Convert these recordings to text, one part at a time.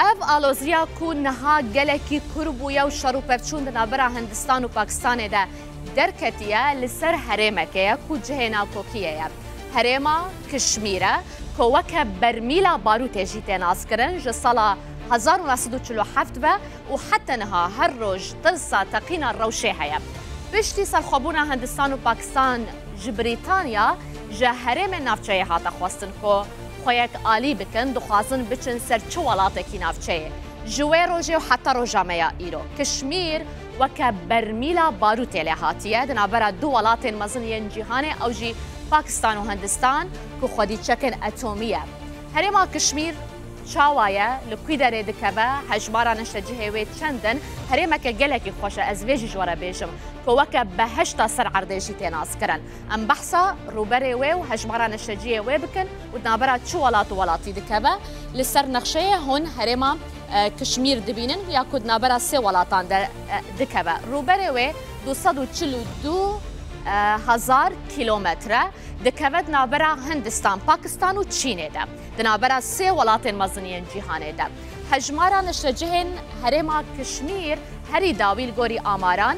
Ev aloziya ku niha gelekî kûr bûye û şer û pevçûn di navbera Hindistan û Pakistanê de derketiye li ser herêmeke ye ku cihê navkokiyê ye. Herêma Kişmîr e ku weke bermîla barûtê jî tê naskirin ji sala hezar û neh sed û çil û heft ve û heta niha her roj tirsa teqîna rewşê heye. Piştî serxwebûna Hindistan û Pakistan ji Brîtanya ji herêmên navçeyê hate xwestin ku Xwe yek alî bikin, dixwazin biçin ser çi welatekî navçeyê. Ji wê rojê û heta roja me ya îro, Kişmîr weke bermîla barûtê lê hatiye, di navbera du welatên mezin yên cîhanê ew jî Pakistan û Hindistan ku xwedî çekên etomî ye. Herêma Kişmîr çawa ye, li kûî derê dikeve, hejmara neştecihê wê çend in? Herêmeke gelekî xweş e, ez vê jî ji we re bêjim ku weke behişta ser erdê jî tê naskirin. Em behsa rûberê wê û hejmara neşeciyê wê bikin û di navbera çi welat û welatî dikeve. Li ser nexşeyê hûn herêma Kişmîr dibînin ya ku di navbera sê welatan de dikeve. Rûberê wê du sed û çil û du hezar kîlometre dikeve di navbera Hindistan, Pakistan û Çînê de. Di navbera sê welatên mezin yên cîhanê de. Hejmara neşecihên herêma Kişmîr herî dawî li gorî amaran,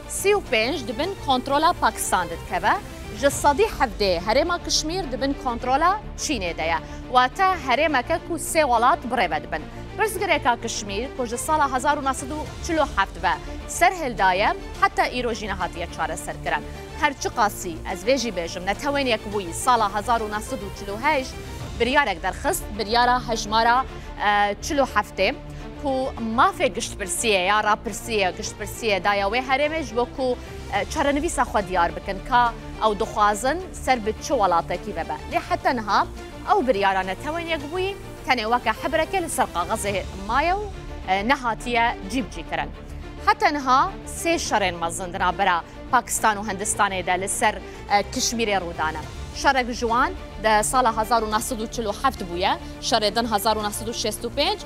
Sî û pênc di bin kontrola Pakistan de dikeve, ji sedî hevdê herêma Kişmîr di bin kontrola Çînê de ye, wate herêmeke ku sê welat bi rê ve dibin. Pirsgirêka Kişmîr ku ji sala hezar û neh sed û çil û heft ve serhil daye heta îro jî nehatiye çareserkirin. Her çiqasî ez vê jî bêjim Netewên Yekbûyî sala hezar û neh sed û çil û heşt biryarek derxist, biryara hejmara çil û heftê, ku mafê giştpirsiyê ya rapirsiyê giştpirsiyê daya wê herêmê ji bo ku çarenivîsa xwe diyar bikin ka ew dixwazin ser bi çi welatekî vebe. Lê heta niha ew biryara Netewên Yekbûyî tenê weke hebreke li ser kaxizê maye û nehatiye cîbicîkirin. Heta niha sê şerên mezin di navbera Pakistan û Hindistanê de li ser Kişmîrê rû dane. Şerek ji wan di sala hezar û neh sed û çil û heft bûye, şerê din hezar û neh sed û şêst û pênc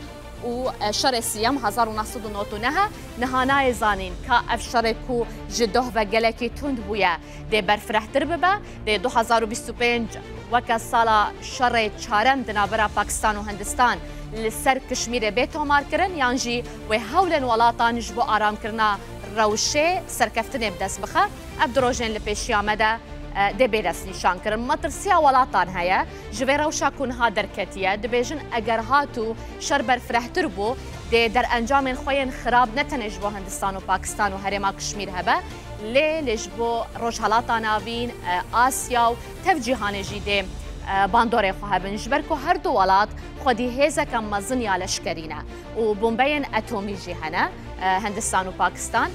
û şerê siyem hezar û neh sed û nod û neh e. Niha nayê zanîn ka ev şerê ku ji doh ve gelekî tund bûye dê berfirehtir bibe. Dê du hezar û bîst û pênc weke sala şerê çarem di navbera Pakistan û Hindistan li ser Kişmîrê bê tomarkirin yan jî wê hewlên welatan ji bo aramkirina rewşê serkeftinê bi dest bixe. Ev du rojên li pêşiya me de dê bê destnîşan kirin. Metirsiya welatan heye ji vê rewşa ku niha derketiye. Dibêjin eger hat û şer berfirehtir bû, dê derencamên xwe yên xirab ne tenê ji bo Hindistan û Pakistan û herêma Kişmîr hebe, lê lê ji bo Rojhilata Navîn, Asya û tev cîhanê jî dê bandorê xwe hebin. Ji ber ku her du welat xwedî hêzeke mezin ya leşkerî ne û bombeyên etomî jî hene. Hindistan û Pakistan.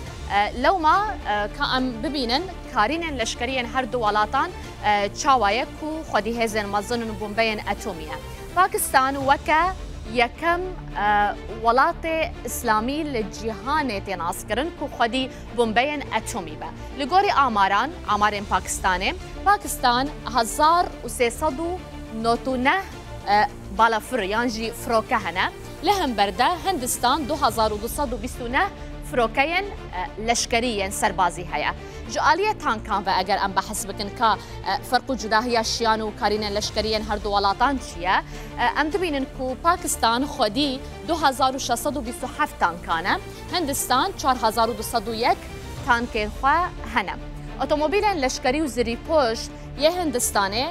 Lewma ka em bibînin karînên leşkeriyên her du welatan çawa ye ku xwedî hêzên mezin in bombeyên etomî ye. Pakistan weke yekem welatê îslamî li cîhanê tê naskirin ku xwedî bombeyên etomî be. Li gorî amaran, amarên Pakistanê, Pakistan hezar û sê sed û nod û neh balafir yan jî firoke hene. Li hember de Hindistan du hezar û du sed û bîst û neh firokeyên leşkerî yên serbazî heye. Ji aliyê tankan ve eger em behs bikin ka ferq û cudahiya şiyan û karînên leşkerî yên herdu welatan çi ye, em dibînin ku Pakistan xwedî du hezar û şeş sed û bîst û heft tankan e, Hindistan çar hezar û du sed û yek tankên xwe hene. Otomobîlên leşkerî û zirîpoş yê Hindistanê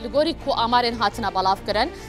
li gorî ku amarên hatine belavkirin,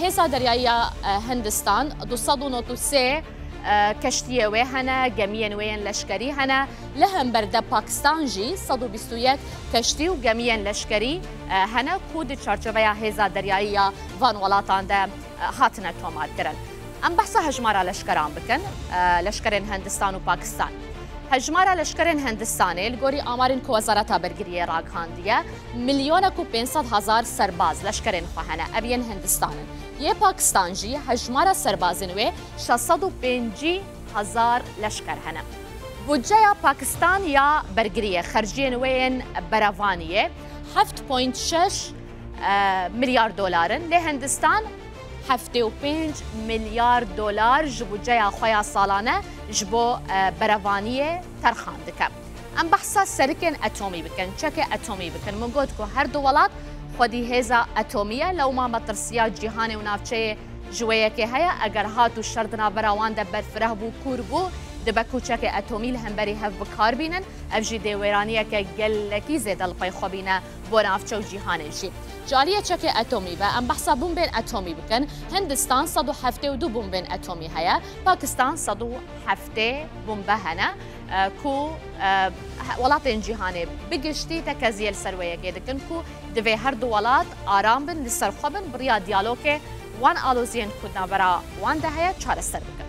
Hêza Deryayî ya Hindistan du sed û nod û sê keştiyê wê hene, gemiyên wê yên leşkerî hene. Li hember de Pakistan jî sed û bîst û yek keştî û gemiyên leşkerî hene ku di çarçoveya hêza deryayî ya van welatan de hatine tomarkirin. Em behsa hejmara leşkeran bikin, leşkerên Hindistan û Pakistan. Hejmara leşkerên Hindistanê li gorî amarên ku Wezareta Bergiriyê ragihandiye Milyonek û pênc sed hezar serbaz leşkerên xwe hene, ev yên Hindistan in. Yê Pakistan jî hejmara serbazên wê şeş sed û pêncî hezar leşker hene. Budceya Pakistan ya bergiriyê xerciyên wê yên berevanî yê heft point şeş milyar dolar in, lê Hindistan heftê û pênc milyar dolar ji budceya xwe ya salane ji bo berevaniyê terxan dike. Em behsa serikên etomî bikin, çekê etomî bikin. Min got ku her du welat xwedî hêza etomî ye, lewma metirsiya cîhanê û navçeyê ji wê yekê heye. Eger hat û şer di navbera wan de berfireh bû, kûr bû, dibe ku çekê etomî li hemberî hev bi kar bînin. Ev jî dê wêraniyeke gelekî zêde li xwe xwe bîne bo navçe û cîhanê jî. Ji aliyê çekê etomî ve em behsa bombên etomî bikin. Hindistan sed û heftê û du bombên etomî heye. Pakistan sed û heftê bombe hene. ku welatên cîhanê bi giştî tekezîyê li ser wê yekê dikin ku divê her du welat aram bin, li ser xwe bin bi riya diyalogê wan aloziyên ku di navbera wan de heye çareser bikin.